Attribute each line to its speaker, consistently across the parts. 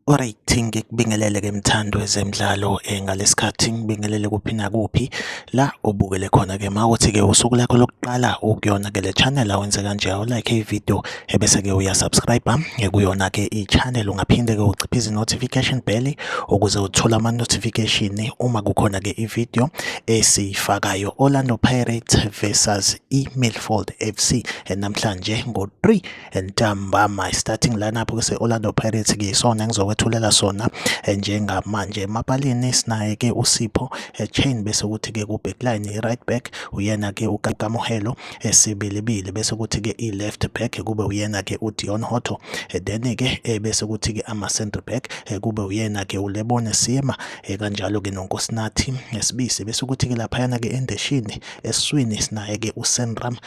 Speaker 1: Alright ngikubingelele ke mthando ezemidlalo eh, ngalesikhathi ngibingelele kuphi nakuphi la obukele khona ke mawuthi ke usuku lakho lokuqala ukuyona ke le channel awenze kanje awu like i video ebese ke uya subscribe kuyona ke i-channel ungaphinde ke uciphe izi-notification bell ukuze uthole ama-notification uma kukhona ke i-video esiyifakayo Orlando Pirates versus i-Milford FC namhlanje ngo-3 ntambama starting lineup ke se-Orlando Pirates ke isona engizokwethulela sona eh, njengamanje emapalini sinaye ke uSipho eh, Chain bese kuthi ke ku-backline i-right back uyena ke uKamuhelo esibilibili bese kuthi-ke i-left back kube uyena-ke udion hotto eh, then-ke eh, bese kuthi-ke ama-centre back eh, kube uyena-ke ulebone sima kanjalo-ke nonkosinathi esibisi bese kuthi-ke laphayana-ke endeshini esiswini sinaye-ke usenram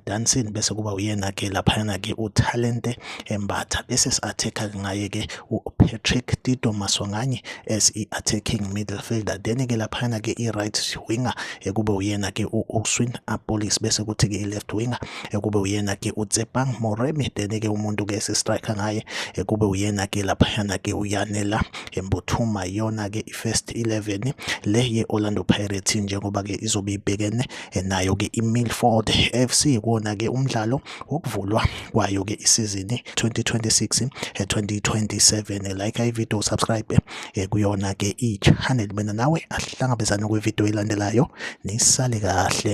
Speaker 1: dansin bese kuba uyena-ke laphayana-ke utalente embatha bese si-athekha ngaye-ke upatrick tito masonganye as i-attacking midfielder then-ke laphayana-ke i-right winger ekube uyena ke u-Uswin Apolis bese kuthi ke i-left winger ekube uyena ke uTsepang Moremi then ke umuntu ke si-striker ngaye ekube uyena ke laphayana ke uyanela embuthuma yona ke i-first 11 le ye-Orlando Pirates njengoba ke izobe ibhekene nayo ke i-Milford FC kona ke umdlalo wokuvulwa kwayo ke isizini 2026 2027 like i-video subscribe ekuyona-ke i-channel mina nawe asihlangabezane kwividiyo elandelayo nisale kahle